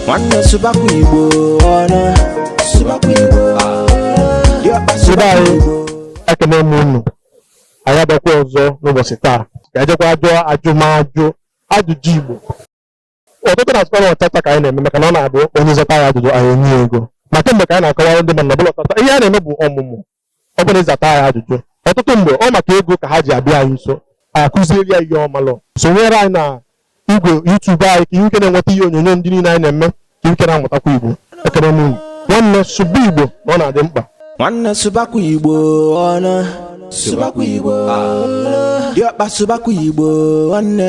nwanne sụbakwa igbo ọnụ sụbakwa igbo diọkpa sụbakwa igbo ekene m unu anyị abịakwa ọzọ n'ụbọchị taa ga-ejekwa jụọ ajụmajụ ajụjụ igbo ọtụtụ na-asịkwa na ọtata ka anyị na-eme maka na ọ na-abụ onye zata ya ajụjụ anyị enye ya ego ma kemgbe ka anyị na-akọwara ndị mmadụ na ọbụla ọtata ihe a na-eme bụ ọmụmụ ọ bụla ịzata ya ajụjụ ọtụtụ mgbe ọ maka ego ka ha ji abịa anyị nso akụzieri ya ihe ọ malụ sonyere anyị na igwe YouTube anyị ka i nwee ike na-enweta ihe onyonyo ndị niile anyị na-eme ka i nwee ike na-amụtakwa Igbo ekene m unu nwanne sụba Igbo na ọ na-adị mkpa nwanne sụbakwa Igbo ọnụ sụbakwa Igbo diọkpa sụbakwa Igbo nwanne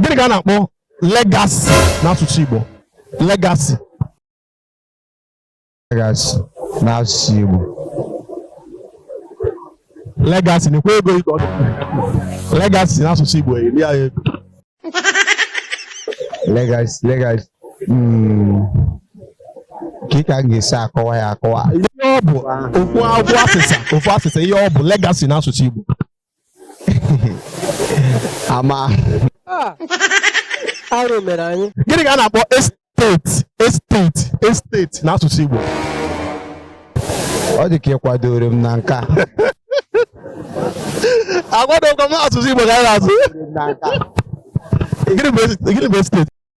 gịnị ka a na-akpọ legacy n'asụsụ Igbo legacy legacy n'asụsụ Igbo legacy na-ekwe ego ego legacy n'asụsụ Igbo eri ya ego legacy legacy hmm. ka ka m ga-esi akọwa ya akọwa ihe ọ bụ ofu asịsa ofu asịsa ihe ọ bụ legacy n'asụsụ Igbo ama Ah, arụ mere anyị gịnị ka a na-akpọ estate estate estate n'asụsụ Igbo ọ dị ka ị kwadoro m na nke a agwadokwa m asụsụ Igbo ka anyị na-asụ na nke a gịnị bụ estate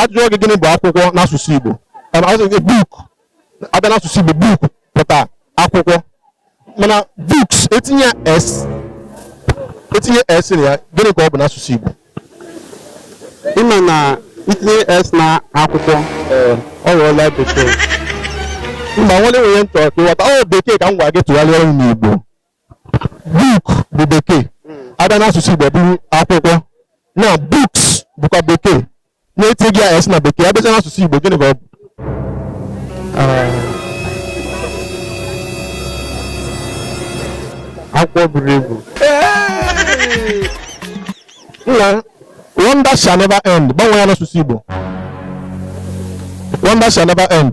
ajụjụ gị gịnị bụ akwụkwọ n'asụsụ Igbo book abịa n'asụsụ Igbo book pụta akwụkwọ mana books etinye s etinye s na ya gịnị ka ọ bụ n'asụsụ Igbo ị ma na i tinye s na akwụkwọ ọ ghọọla bekee mba nwere nwere ntọ ka ị ghọta ọ bekee ka m gwa gị tụgharịa n'Igbo book bụ bekee abịa n'asụsụ igbo bụrụ akwụkwọ na books bụkwa bekee na-etinye ya s na bekee abịacha n'asụsụ igbo gịnị ka ọ bụ akwụkwọ buru ibu nna wonder shall never end gbanwee ya n'asụsụ igbo wonder shall never end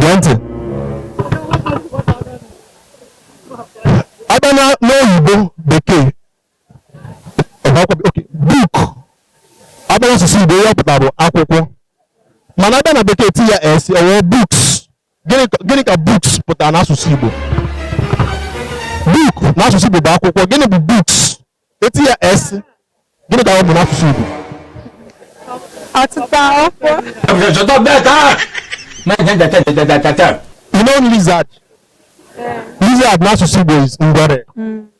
gee ntị abịa na n'oyibo bekee book abịa n'asụsụ igbo ihe ọ pụta bụ akwụkwọ mana abịa na bekee ti ya s o wee books Gịnị ka books pụtara n'asụsụ Igbo? Book n'asụsụ Igbo bụ akwụkwọ. Gịnị bụ books? E tie ya S. Gịnị ka ọ bụ n'asụsụ Igbo? Ọtụtụ akwụkwọ. You know lizard? Lizard n'asụsụ Igbo is ngwere.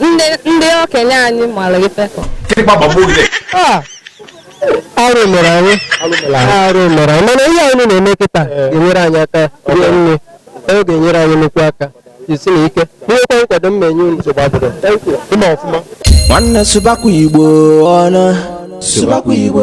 ndị okenye anyị mara ife arụ mere anyị arụ mere anyị mana ihe anyị na-eme kịta ga-enyere anyị aka rie nne ọ ga-enyere anyị nnukwu aka jisinụ ike nwekwa nkwado m ma-enye unu ịma ọfụma nwanne sụbakwa igbo ọnụ sụbakwa igbo